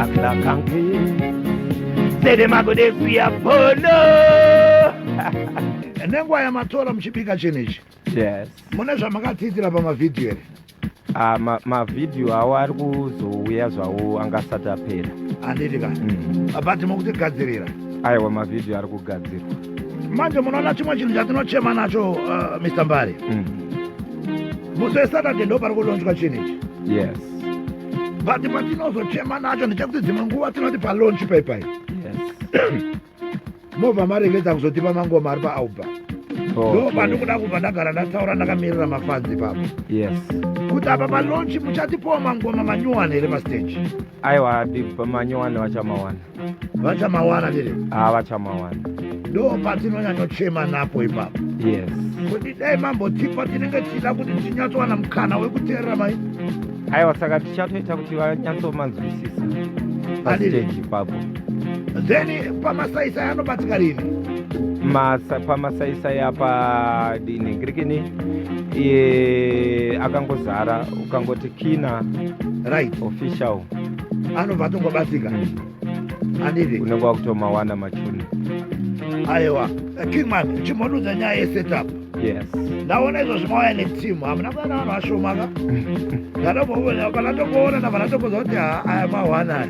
aklakanke sede magode kuya bono nenguva yamatora muchibika chinhu ichi yes mune zvamakadziitira pamavhidhiyo here Ah, mavhidhiyo awo ari kuzouya zvawo anga asati apera handiti ka mm. abati mukutigadzirira aiwa mavhidhiyo ari kugadzirwa manje munoona chimwe chinhu chatinochema nacho uh, mr mbari mm. musi wesaturday ndo pari kulonjwa chinhu ichi yes but patinozochema nacho ndechekuti dzimwe nguva tinoti palonchi paipai mobva marevedza kuzotipa mangoma ari paalba oh, ndo pandikuda kubva ndagara ndataura ndakamirira mafanzi ipapo kuti apa palonchi muchatipowa mangoma manyuwani here pasteji aiwa big pamanyuwani vachamawana vachamawana here ah, vachamawana ndo patinonyanyochema napo ipapo yes kuti dai mambotipa tinenge tichida kuti tinyatsowana mukana wekuteerera mai aiwa saka tichatoita kuti vanyatsomanzwisisa pasteji ipapo then pamasaisai anobatsika rini pamasaisai apa dini ngirikini akangozara ukangoti kina right official anobva atongobatsika anditi unenge wakutomawana machuni aiwa kingman chimbonuza nyaya yesetup yes ndaona izvo zvimauya neteam hamuna kuana vanhu vashomaka ndatombovona vanatomboona na vanatomboza kuti ha aya mawana aya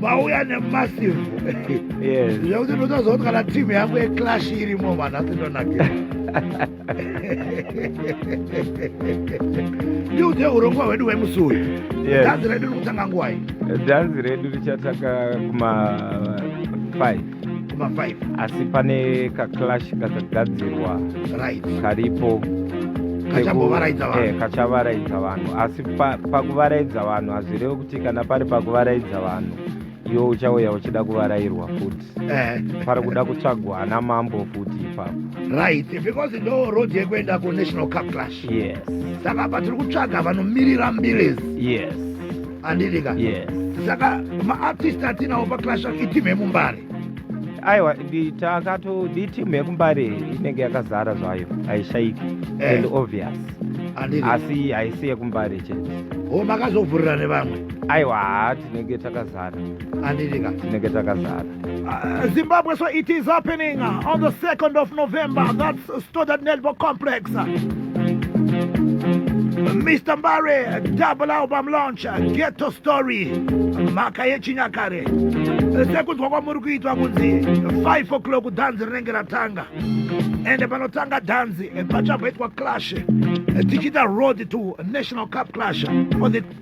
mauya nemassive yes zvekuti ndotozoti kana team yangu yeclash irimo vanhu asindonakira ndiudze urongwa hwedu hwemusi uyu dhanzi redu rikutanga ngwai dhanzi redu richatanga kuma 5 kuma 5 asi pane kaclash kakagadzirwa right karipo Eh, kachavaraidza vanhu asi pakuvaraidza vanhu hazvirevi kuti kana pari pakuvaraidza vanhu iwe uchauya uchida kuvarairwa futi eh. pari kuda kutsvagwa ana mambo futi ipapo right because ndo road yekuenda kunational cup clash yes saka apa tiri kutsvaga vanomirira mbilezi yes andidika yes saka maartist atinawo paclash itimu yemumbare aiwa takato itimu yekumbare inenge yakazara zvayo haishaiki eh. and obvious asi haisi yekumbare chete o oh, makazovhurira nevamwe aiwa haa tinenge takazara andirika tinenge takazara Uh, Zimbabwe, so it is happening uh, on the 2nd of November. That's uh, Stoddard Network Complex. Uh, Mr. Mbare, double album launch, uh, Ghetto Story, mhaka yechinyakare. Uh, Sekunzwa kwamuri kuitwa kunzi 5 o'clock dhanzi rinenge ratanga. Ende panotanga dhanzi eh, pachamboitwa clash eh, tichiita road to National Cup clash for the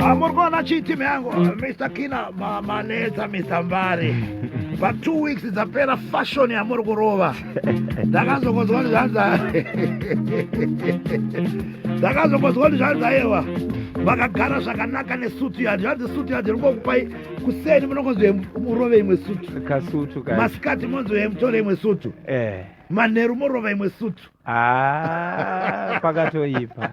Amuri kuona chii timu yangu Mr Kina mamanetsa Mr Mbari pa two weeks dzapera fashion yamuri kurova ndakazokonzwa kuti zvanza ndakazokonzwa kuti zvanza ewa vakagara zvakanaka nesutu yadi zvanzi sutu yadi ringokupai kuseni munongonzi murove imwe sutu kasutu masikati monzi yemutore imwe sutu eh. manheru morova imwe sutu ah, pakatoipa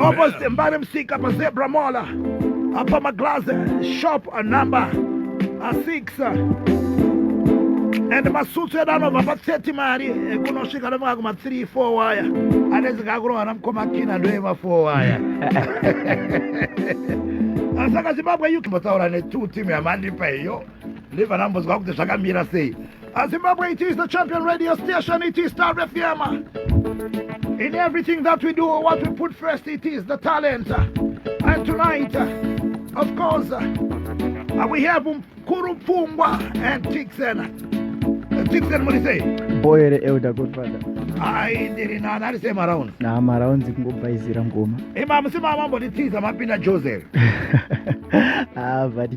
Opposite Mbare Msika pa Zebra Mall apa maglass shop number 6 and masutsu edu anobva pa 30 mari kunosvika nofika kuma 3 4 waya anezika akurohana mukoma kina ndoema 4 waya saka zimbabwe uk mbotaura ne2 team yamandipa iyo ndibva ndambonzwa kuti zvakamira sei As Zimbabwe, it is the champion radio station, it is Star FM. In everything that we do, what we put first, it is the talent. And tonight, of course, uh, we have Kuru Pungwa and Tixen. Uh, Tixen, what do you say? Boy, the elder godfather. Ayi ndiri nani ari same around. Na mararound zikungobhaizira ngoma. Ema eh, musima mambo nditiza mapinda Joseph. Ah, vati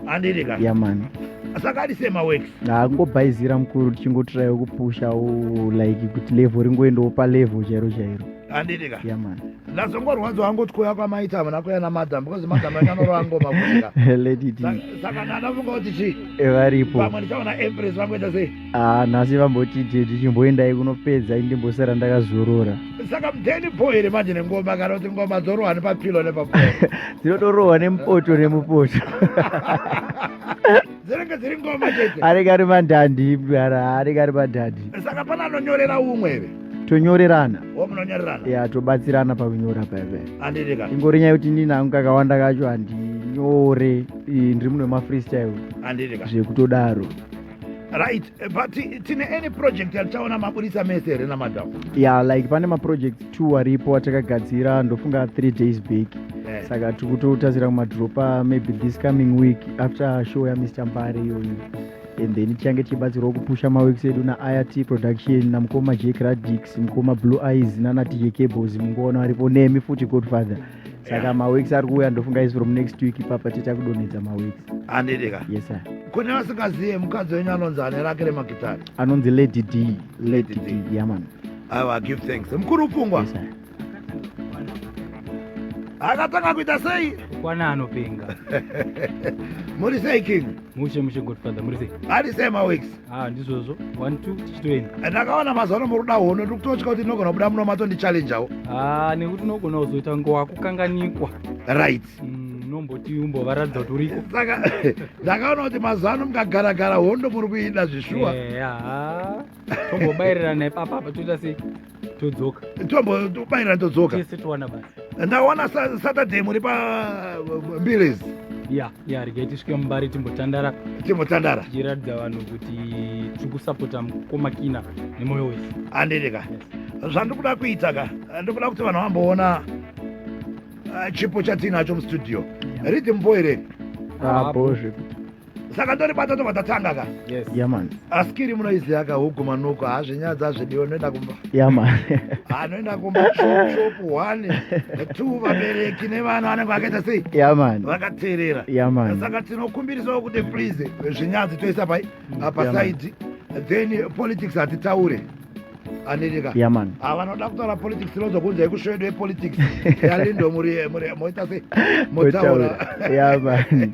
andiri ka ya mani saka ari sema works angobhaizira mukuru tichingotirayo kupusha like kuti level ringoendawo pa level chairo chairo andiri ka ya mani ndazongorwadza wangu kuti kuya kwamaita hamuna kuya namadam because madam akanoroa ngoma kuika saka ndanafunga kuti chii eh, varipo pamwe ndichaona empress vangoita sei Ah, nhasi vamboti tete chimboendai kunopedza indimbosara ndakazorora saka mudheni bho here manje nengoma kana kuti ngoma dzorohwa nepapilo nepapo dzinotorohwa nemupoto nemupoto dzinenge dziri ngoma chete anenge ari mandandi mdara anenge ari mandandi saka pana anonyorera umwe here tonyorerana munonyorerana ya tobatsirana pakunyora paipe andirika ingori nyaya yekuti ndini hangu kakawanda kacho handinyore ndiri muno mafreestyle andirika zvekutodaro right eh, but tine any project yatichaona maburitsa mese here namadam ya like pane maproject two aripo atakagadzira ndofunga three days back eh. saka tiri kutotarisira kumadropa maybe this coming week after show yamr mbare iyoyo and then tichange tichibatsirwa kupusha maweeks edu nairt production namukoma jack radix mukoma blue eyes nanatj cables mungoona varipo nemi futi godfather saka maweeks ari kuuya ndofunga isi from next week ipapa tiita kudonhedza maweeks andidika yes sir kune vasingazive mukadzi wenyu anonzi ane rake remagitari anonzi lady d lady d yaman aiwa give thanks mukuru pfungwa yes, akatanga kuita sei kwana anopenga muri sei king mushe mushe godfather muri sei ari sei maweeks Ah, ndizvozvo one two tichitoenda eh, ndakaona mazuva ano muruda hono tiri kutotya kuti ndinogona kubuda muno matondichallenjawo ah, nekuti unogona kuzoita ngowa kukanganikwa right mm, unomboti mm, umbovaratidza kuti uriko eh, saka ndakaona kuti mazuva ano mukagaragara hondo muri kuida zvishuwa eh, tombobairira naipapapa toita sei todzoka tombo tobayira todzoka tese towana basa ndawana saturday muri pa uh, mbiles ya ya regai tisvike mumbari timbotandara timbotandara tichiratidza vanhu kuti tiri kusapota mukoma kina nemoyo wese handidi ka zvandiri kuda kuita ka ndiri kuda kuti vanhu vamboona uh, chipo chatiinacho mustudio ridhi mumboereni apo zvekuti saka ndoribata tobva tatanga ka yes yeah man askiri munoiziva ka huku manuko hazvinyadzi hazvidiwa noenda kumba yeah man anoenda ah, kumba shop one two vabereki nevana vanenge vakaita sei yeah man vakateerera yeah man saka tinokumbirisawo kuti please zvinyadzi toisa pai apa side then politics hatitaure anirika yeah man ah, vanoda kutaura politics inonzwa kunzi yekusvedu yepolitics yalindo muri moita sei motaura yeah man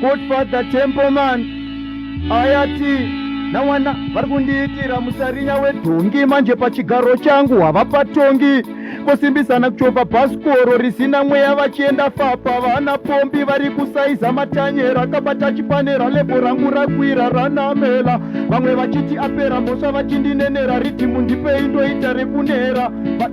Good Father Templeman ayati nawana vari kundiitira musarinya wedhongi manje pachigaro changu havapatongi kosimbisana kuchova bhasikoro risina mweya vachienda fapa vana pombi vari kusaiza matanyera akabata chipanera lebho rangu rakwira ranamela vamwe vachiti apera mhosva vachindinenera ridhimu ndipei ndoita rekunera But...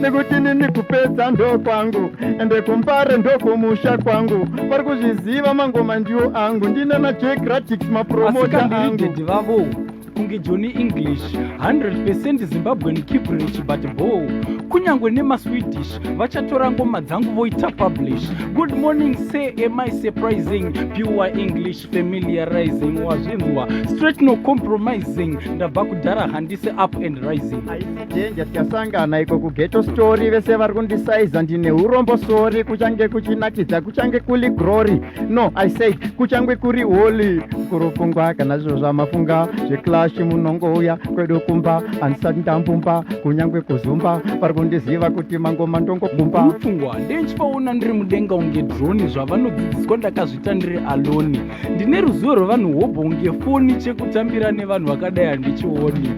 nekuti nini kupedza ndo kwangu ende kumbare ndo kumusha kwangu vari kuzviziva mangoma ndiwo angu ndine najegratics mapromota angu vavo kunge joni english 100 zimbabwean kibrich but bo kunyange nemaswedish vachatora ngoma dzangu voita publish good morning say am i surprising pure english familiarizing wazvinzwa straight no compromising ndabva kudhara handisi up and rising aisidenja tikasangana iko kugeto story vese vari kundisaiza ndine urombo sori kuchange kuchinakidza kuchange kuli grory no i said kuchange kuri holy kurupfungwa kana zviro zvamafunga zveclash munongouya kwedu kumba handisati ndambumba kunyange kuzumba vari kundiziva kuti mangoma ndongobumba pfungwa ndenchipaona ndiri mudenga unge droni zvavanodzidziswa ndakazvi ndakazviita ndiri alone ndine ruzivo rwevanhu hobho kunge foni chekutambira nevanhu vakadai handichioni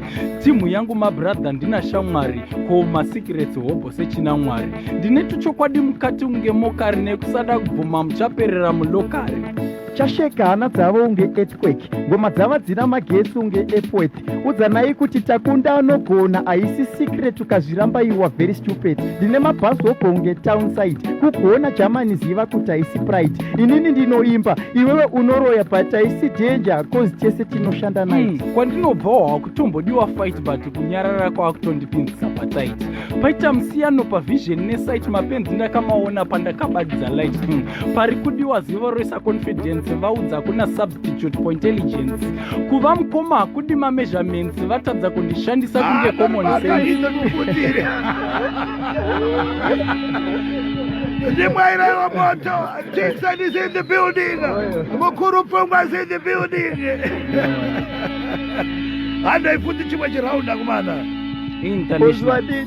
timhu yangu mabradha ndina shamwari ko masecrets hobho sechina mwari ndine tuchokwadi mukati kunge mokari nekusada kubvuma muchaperera mulokari chasheka hana dzavo unge earthquake ngoma dzava dzina magetsi unge epwet udzanai kuti takunda anogona haisi secret ukazviramba iwa very stupid ndine mabhazi wobonge town side kugona germany ziva kuti haisi pride inini ndinoimba iwewe unoroya but haisi danger cause tese tinoshanda nai mm, kwandinobvawo hakutombodiwa fight but kunyarara kwakutondipinzisa patit paita musiyano pavision nesite mapenzi ndakamaona pandakabatidza light mm, pari kudiwa zivo roisa confidence vaudza kuna substitute for intelligence kuva mukoma hakudi mameasurements vatadza kundishandisa ah, kunge common sense ndimwairaiwa moto tixon is in the building mukuru pfungwa is in the building handai futi chimwe chiraunda kumana intanazvadii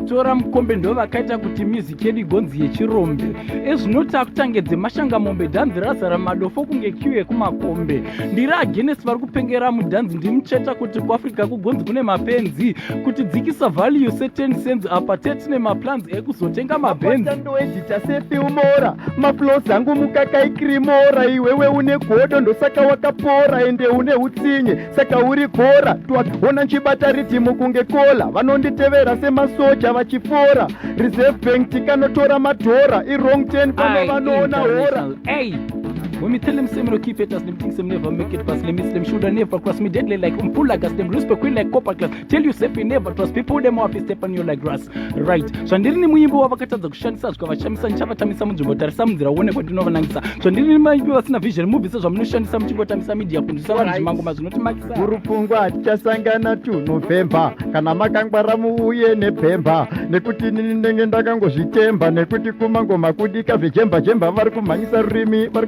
tora mukombe ndo vakaita kuti mizi chedu igonzi yechirombe ezvinoti akutange dzemashanga mombe dhanzi razara madofo kunge kiu yekumakombe ndiri agenesi vari kupengera mudhanzi ndimucheta kuti kuafrica kugonzi kune mapenzi kuti dzikisa value seten senzi apa tetine maplans ekuzotenga mabenzindoedita sefilmora maplos angu mukakaikrimora iwewe une godo ndosaka wakapora ende une utsinye saka uri kora twakaona nchibata ridhimu kunge kola vanonditevera semasoja vachifora reserve bank tikanotora madhora irong 10 pano vanoona hora When me tell them say me no keep it as them think say me never make it past limits, them shoulda never cross me deadly like umpula gas, them respect we like copper glass. tell you safe never trust people dem wapi step on you like grass right zvandiri ni muimbi wa vakatadza kushandisa zvika vashamisa nchava tamisa munzvimbo tarisa munzira uone kwa ndinova nangisa zvandiri ni muimbi vasina vision movie se zvamunoshandisa muchingo tamisa media kunzisa vanhu zvimango mazvino timakisa guru pfungwa tichasangana tu November kana makangwara muuye ne pemba nekuti nini ndenge ndakangozvitemba nekuti kumangoma kudika zvejemba jemba vari kumhanyisa rurimi vari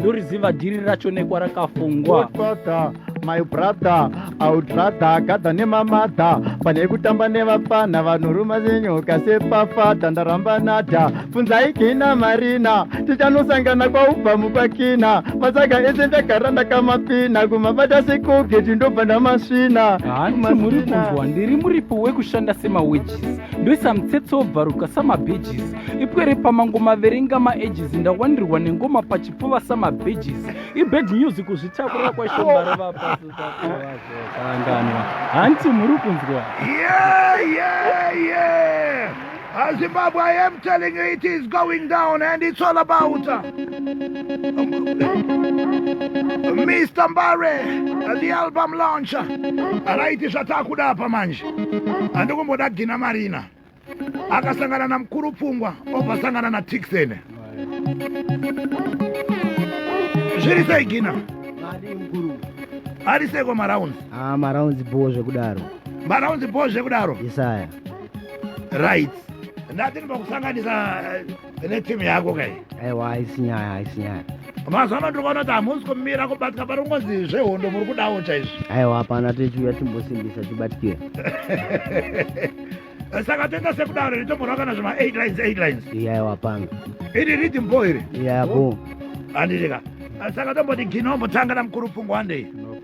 ndoriziva dhiri racho nekwarakafungwa my brother audrada gadha nemamadha pane kutamba nevapfana vanoruma zenyoka sepafadha ndaramba nadha funzai kina marina tichanosangana kwaubva mupakina masaga ese ndagara ndakamapina kumabata sekuge tindobva ndamasvina hanti muri kunzwa ndiri muripo wekushanda semawages ndoisa mutsetse wobvaruka samabhejisi ipwere pamangoma verenga maages ndawandirwa nengoma pachipfuva samabeges ibad music kuzvitakura kwashombara vapasoakanganwa hanti muri kunzwa Zimbabwe, I am telling you, it is going down, and it's all about uh, Mr. Barry, uh, the album launcher. Right, Shatakuda Pamanj, and Ukumboda Gina Marina. akasangana namukuru pfungwa obva sangana natixen zviri sei gina ari seko marounds ah, marounds bho zvekudaro marounds bho zvekudaro isaya right ndati ndinokusanganisa eh, ine timu yako kai aiwa haisi nyaya haisi nyaya mazuva ano tikaona kuti hamusi kumira kubatika pari kungonzi zvehondo muri kudawo chaizvo aiwa hapana tichiuya timbosimbisa tibatikira saka toita sekudaro iri tombonwa kana zvema eight lines eight lines iyaiwa hapana iri ridi mbo iri iyaya bo handirika saka tomboti ginombotanga namukuru pfungwandei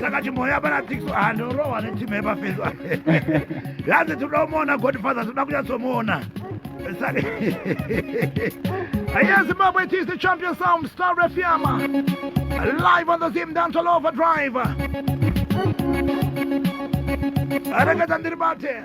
saka chimboya pana tix andorohwa netimu yepafeso hanzi tinoda kumuona godfather tinoda kunyatsomuona Yes, Zimbabwe, it is the champion sound, Star Refiama. Live on the Zim Dance All Over Drive. Arangata Ndiribate.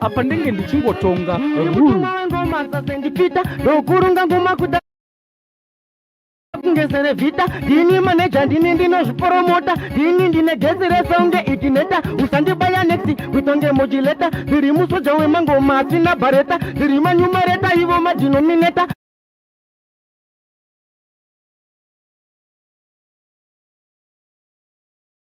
apa ndenge ndichingotonga rule ngoma sasendipita ndokurunga ngoma kuda kungesere vhita ndini maneja ndini ndinozviporomota ndini ndine gezi resaunge itineta usandibaya nexi kutonge mojileta ndiri musoja wemangoma asina bhareta ndiri manyumareta ivo madhinomineta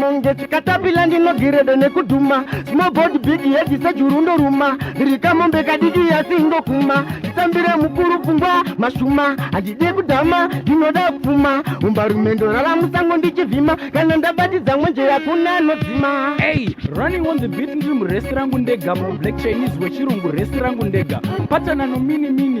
monge chikatapila ndinogiredo nekudhuma smobod big yedi sejuru ndoruma rikamombe kadiki yasi ndokuma nditambire mukuru pfungwa mashuma handidi kudhama ndinoda kupfuma umbarume ndorara musango ndichivhima kana ndabatidza mwenje yakuna anodzima hey, running on the beat ndiri muresi rangu ndega mublack chinese wechirungu resi rangu ndega patana nominimini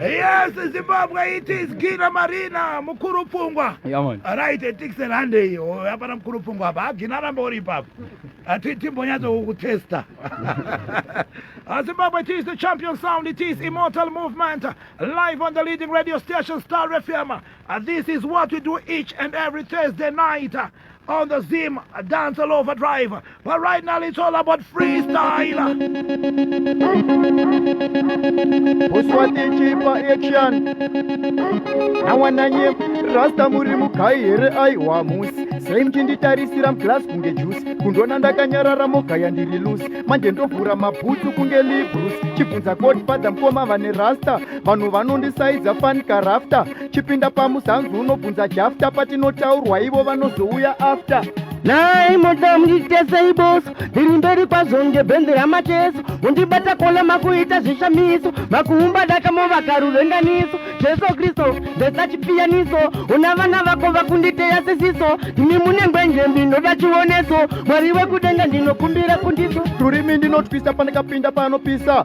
yes, Zimbabwe it is Gina Marina mukuru pfungwa. Yeah man. Right, Dixon hande iyo hapana mukuru pfungwa hapa. Gina ramba uri ipapo. Ati timbonyatso kukutesta. Uh, Zimbabwe it is the champion sound, it is immortal movement live on the leading radio station Star FM. Uh, this is what we do each and every Thursday night. on the Zim Dance All Over Drive. But right now it's all about freestyle. Uswati chipa action. Nawananye rasta muri mukai here aiwa musi. Sei muchinditarisira mglass kunge juice. Kundona ndakanyarara mogaya ndiri loose. Manje ndovhura mabhutsu kunge Lee Bruce. Chibvunza godfather mkoma vane rasta. Vanhu vanondisaidza fan karafta. chipinda pamusanzu unobvunza jafta patinotaurwa ivo vanozouya after nhai moda munditesei boso ndiri mberi kwazvo ngebhenzi ramacheso mundibata kola makuita zvishamiso makuumba daka movaka ruvenganiso jesu kristu ndesa chipiyaniso una vana vako vakunditeya sisiso ndimi mune ngwenje ndinoda chioneso mwari wekudenga ndinokumbira kundiso rurimi ndinotwisa pandikapinda panopisa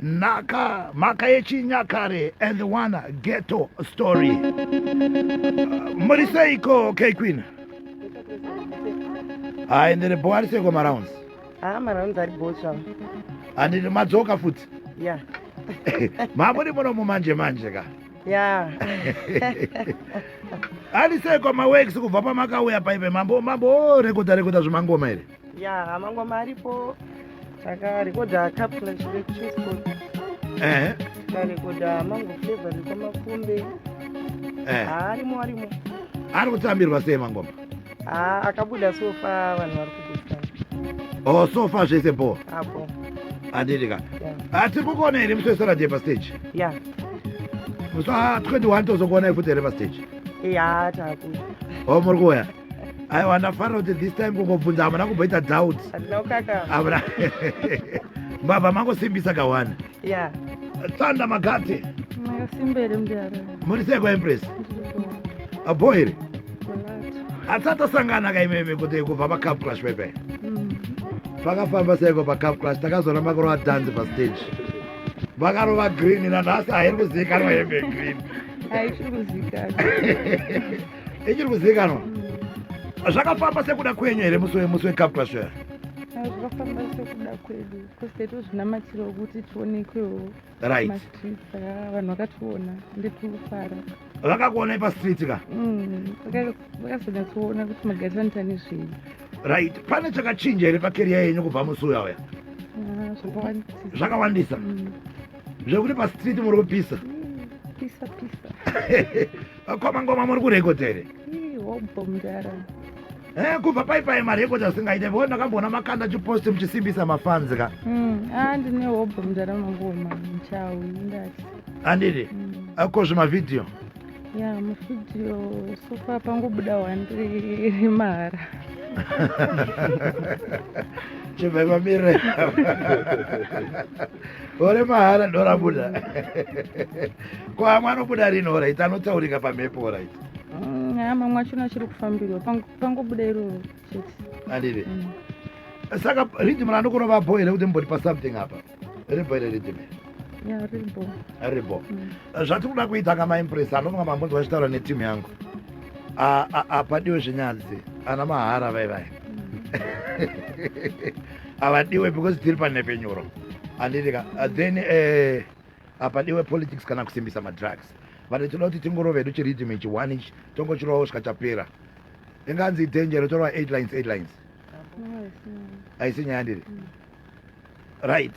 Naka maka yechinyakare and the one ghetto story. Muriseiko K Queen? Hai ndiri bo ari seiko marounds? Ah marounds ari bo chavo. Andiri madzoka futi? Yeah. Mamuri muno mumanje manje ka? Yeah. ari seiko maweeks kubva pamakauya paipe mambo mambo rekoda rekoda zvemangoma here? ya mangoma aripo takarekodha kapla chivekuchesco ehe tikarekodha mango flavor nekwamakumbe ehe arimo arimo ari kutambirwa sei mangoma Ah, akabuda sofa vanhu vari kugutana oh so far zvese bho apo handiti ka ya Ah, tiri kukuona here musi wesaturday pastage ya musi wa 21 tozokuonai futi here pastage ya takuda oh muri kuuya aiwa ndafara kuti this time kungobvunza hamuna kumboita doubt hamuna mbavha mangosimbisa kawana tsanda magate muri seko empress abo here atsatasangana kaimeme kuti kubva pacap clash pepe mm. pakafamba seko pacap clash takazoona makurova dance pastage vakarova green nanhasi hairi kuzivikanwa hembe green ichiri kuzivikanwa zvakafamba sekuda kwenyu here musi wemusi wekaptashare zvakafamba sekuda kwedu bcause taitozvinamatira kuti tionekwewo right mastreet saka vanhu vakationa ndekufara vakakuonai pastreet ka mm, vakazonyatsoona kuti magarisanoita nezvei right pane chakachinja here pakeriya yenyu kubva musi uya uya ah, zvakawandisa mm. zvekuti pastreet muri kupisa mm, pisa pisa Vakoma ngoma muri kurekodha here? Hobho mdara. Eh, kubva pai pai marekodhi asingaite vona ndakamboona makanda chiposti muchisimbisa mafanzi ka. Mm, ah ndine hobho mdara mangoma mchawi ndati. Andiri. Mm. Ako zvima video. Ya, yeah, muvideo so far pangobuda wandiri mahara. Chibva pamire. gore mahara ndorabuda ko amwe anobuda rini orit anotaurika pamhepo orit mm, mamwe achona achiri kufambirwa pangobuda iroro chete andive mm. saka riddim randokona vabho here kuti mbori pasomething apa ribho here riddim ribho mm. zvatiri kuda kuita kamaimpress anonga mambonzwa achitaura netimu yangu apadiwe zvenyadzi ana mahara vaivai avadiwe because tiri panhepfenyuro anditika uh, then eh, apadiwe politics kana kusimbisa madrugs vati tinoda kuti tingorova hedu chiridhim ichi one ichi tongochirovawo svika chapera inganzi danger torova eight lines eight lines aisi nyaya ndiri right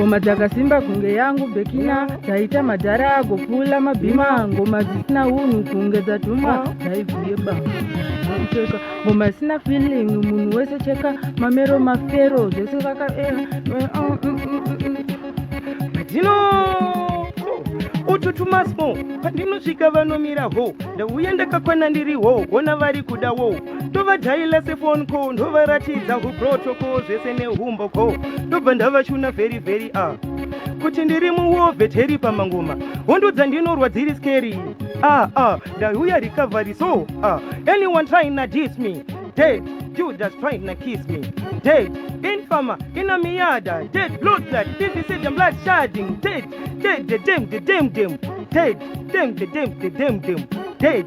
ngoma dzakasimba kunge yangu bekina dzaita madhara agopfuula mabhima ngoma dzisina unhu kunge dzatumwa dzaibvuye ba kucheka ngoma isina feeling munhu wese cheka mamero mafero zvese vakaera dzino ututumasmo pandinosvika vanomira ho ndauya ndakakwana ndiri ho hona vari kuda wo ndovadhaila sefon co ndovaratidza huprotoko zvese nehumbo co ndobva ndavachuna vheri vheri a ah. kuti ndiri muwovheteri pamangoma hondo dzandinorwa dziri skeri a ah, a ah. ndauya recovery so a anyone trying na dis me dead judas trying na kiss me dead infama ina miyada dead blood blood divisidem blood sharding dead dead dedem dedem dem dead dem dedem dedem dem dead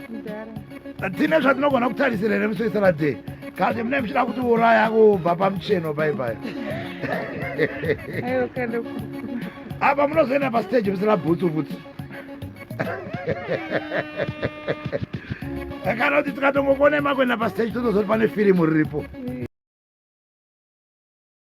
tine zvatinogona kutarisira here musi wesaturday kati mune muchida kuti uraya kubva pamucheno paipai apa munozoenda pastage musina bhutsu bhutsu kana kuti tikatongokonema kuenda pastage totozoti pane firimu riripo